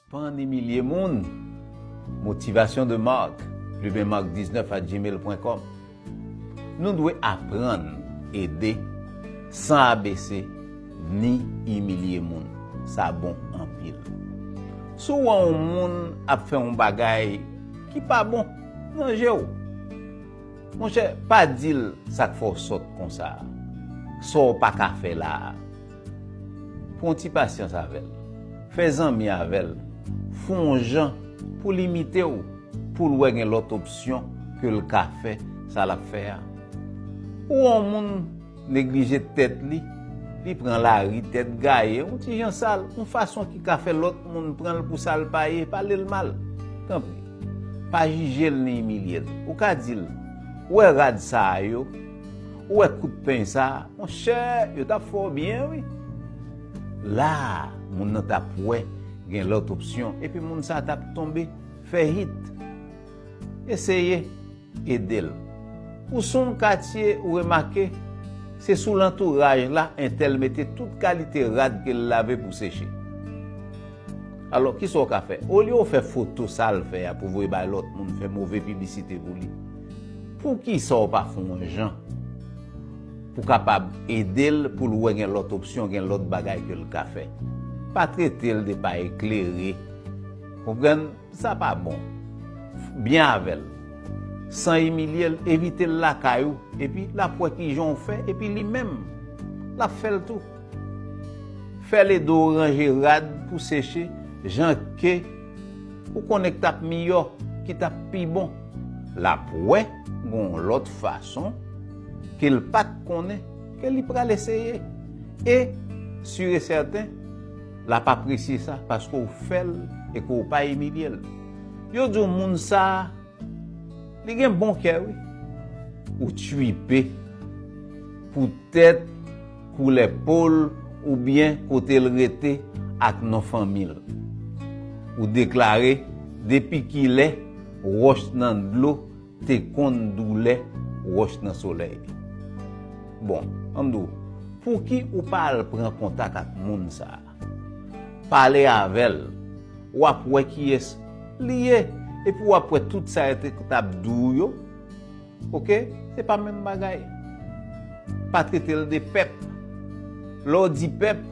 Sispann imilye moun! Motivation de Marc, plumenmarc19@gmail.com Nou dwe aprann ede san abese ni imilye moun. Sa bon anpil. Si w wè yon moun ap fè yon bagay ki pa bon nan je w, Monchè pa dil sak fè w sòt konsa sa w pa ka fè la a pran ti pasyans avè l fè zanmi avè l fè w yon jan pou l imite w pou l wè gen lòt opsyon ke l ka fè sa l ap fè a ou yon moun Neglije tèt li, li pran lari tèt gaye, yon ti jan sal, yon fason ki ka fè lòt moun pran l pou sa l pa ye, pale l mal. Tanpri, pa jije l ni imilye l. Ou ka di l, Ou wè rad sa a yo? Ou wè kout peny sa a? Monchè, yo t ap fè w byen wi! La a, moun nan t ap wè gen lòt opsyon, epi moun sa a t ap tonbe fè hit. Eseye. Ede l. Pou soum katye ou remake, se sou lantouraj la entèl mete tout kalite rad ke l lave pou seche. Alò, kisa w ka fè? Olye w fè foto sa l fè a pou voye bay lòt moun fè move piblisite pou li, poukisa w pa fè yon jan pou kapab ede l pou l wè gen lòt opsyon, gen lòt bagay ke l ka fè? Pa trete l de pa eklere, konprann? Sa pa bon. Byen avè l. San imilye l, envite l lakay ou, epi l ap wè kijan w fè, epi li menm, l ap fè l tou. Fè l ede w ranje rad pou seche jan ke ou konnen k t ap miyò, ki t ap pi bon. L ap wè gen yon lòt fason ke l pa t konnen, ke li pral eseye. E, sire sèten, Lap apresye sa paske w fè l e ke w pa imilye l. Yo di w moun sa li gen bon kè wi. Ou tchuipe poutèt koulè po l oubyen kote l rete ak non fanmi l. Ou deklare depi kilè wòch nan dlo Te konn doulè wòch nan solèy. Bon, an m di w, pouki ou pa al pran kontak ak moun sa a? Pale avè l, w ap wè kiyès li ye, epi w ap wè tout sa yo t ap di w yo, oke, se pa menm bagay. Pa trete l de pèp. Lè w di pèp,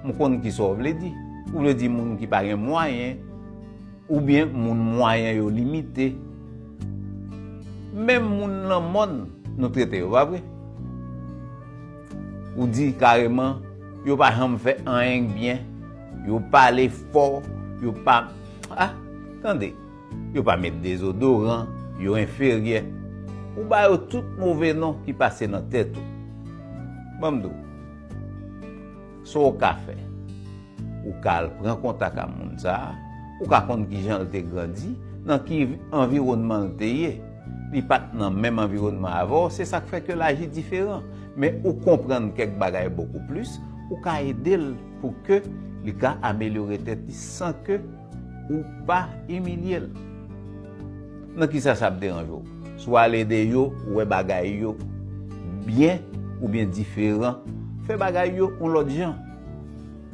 m konn kisa w vle di. Ou vle di moun ki pa gen mwayen. Oubyen moun mwayen yo limite. Menm moun lan mòn nou trete yo, pa vre? Ou di kareman, yo pa janm fè anyen k byen, yo pale fò, yo pa, ah, tande, yo pa met dezodoran, yo enferyè. Ou ba yo tout move non ki pase nan tèt ou. Ban m di w. Sa w ka fè? Ou ka al pran kontak a moun sa a. Ou ka konn ki jan l te grandi, nan ki anviwònman l te ye. Li pa t nan menm anviwònman avè w, se sa k fè ke l aji diferan. Men ou konprann kèk bagay bokou plis, ou ka ede l pou ke li ka amelyore tèt li san ke Ou pa imilye l. Nan kisa sa ap deranje w? Si w al ede yo wè bagay yo byen oubyen diferan, fè bagay yo yon lòt jan.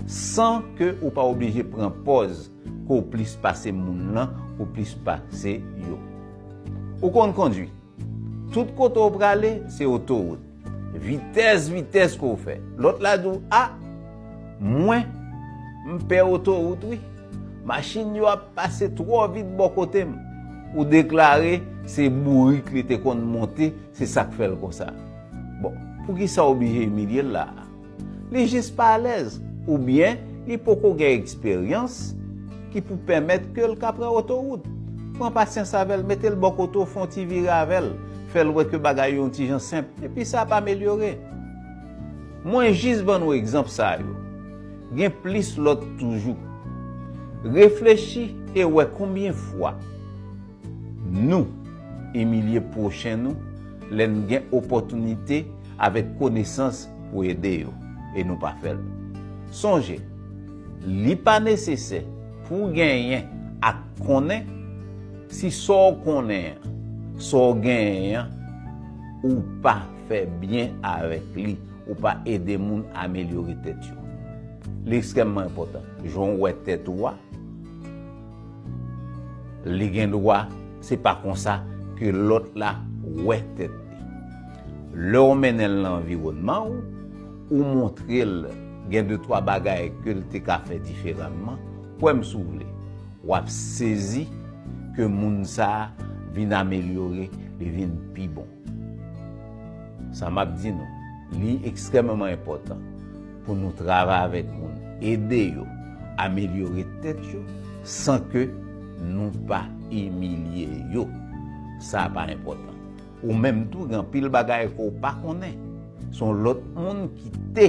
San ke ou pa oblije pran pòz ke w plis pase moun lan ou plis pase yo. Ou konn kondwi? Tout kote w prale, se otowout. Vitès, vitès ke w fè. Lòt la di w, a! Mwen, m pè otowout wi. Machin yo ap pase twò vit bò kote m. Ou deklare, se bourik li te konn monte, se sa k fè l konsa. Bon, poukisa w oblije imilye l la a? Li jis pa alèz oubyen li poko gen eksperyans ki pou pèmèt ke l ka pran otorout. Pran pasyans avè l, mete l bò kote w, fè yon ti vire avè l, fè l wè ke bagay yo yon ti jan senp, epi sa ap amelyore. Mwen jis ban nou egzanp sa yo. Gen plis lòt toujou. Reflechi e wè konbyen fwa. Nou imilye pwochen nou lè n gen opòtinite avèk konesans pou ede yo e nou pa fè l. Sonje, li pa nesesè pou w genyen ak konnen si sa w konnen an, sa w genyen an, ou pa fè byen avèk li, ou pa ede moun amelyore tèt yo. Li ekstrèmman enpòtan jan w wè tèt ou a. Li gen dwa se pa konsa ke lòt la wè tèt li. Lè w mennen l nan anviwònman ou, ou montre l gen de twa bagay ke l te ka fè diferanman, kwè m si w vle, w ap sezi ke moun sa a vin amelyore, li vin pi bon. Sa m ap di nou, li ekstrèmeman enpòtan pou nou travay avèk moun, ede yo amelyore tèt yo san ke nou pa imilye yo. Sa pa enpòtan. Ou menm tou gen anpil bagay ke w pa konnen. Se yon lòt moun ki te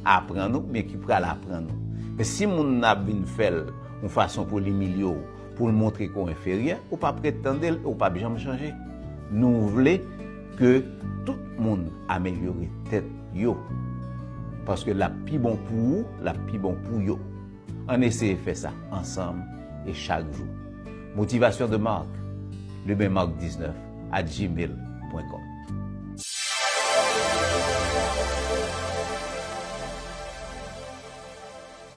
aprann ou oubyen ki pral aprann ou. Men si moun nan ap vin fè l yon fason pou l imilye w, pou l montre ke w enferyè, ou pa prèt tande l e w pap janm chanje. Nou vle ke tout moun amelyore tèt yo, paske l ap pi bon pou ou, l ap pi bon pou yo. Ann eseye fè sa ansanm e chak jou. Motivation de Marc, lebenmarc19 at gmail pwen kòm.